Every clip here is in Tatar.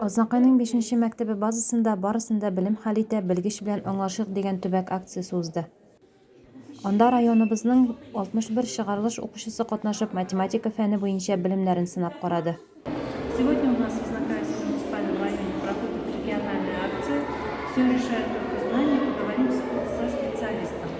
Азнакайның бишенче мәктәбе базасында барысын да белем хәл итә, белгеч белән аңлашыйк дигән төбәк акциясе узды. Анда районыбызның 61 чыгарылыш укучысы катнашып, математика фәне буенча белемнәрен сынап карады. Сегодня у нас в Азнакайском муниципальном районе проходит региональная акция Все решает только знание. Поговорим со специалистом.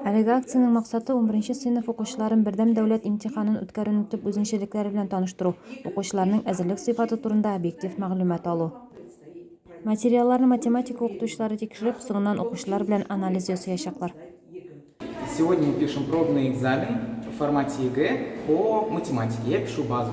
Әлеге акциянең максаты, унберенче сыйныф укучыларын Бердәм дәүләт имтиханын үткәрүнең төп үзенчәлекләре белән таныштыру, укучыларның әзерлек сыйфаты турында объектив мәгълүмат алу. Материалларны математика укытучылары тикшереп, соңыннан укучылар белән анализ ясыячаклар. Сегодня пишем пробный экзамен в формате ЕГЭ по математике. Я пишу базу.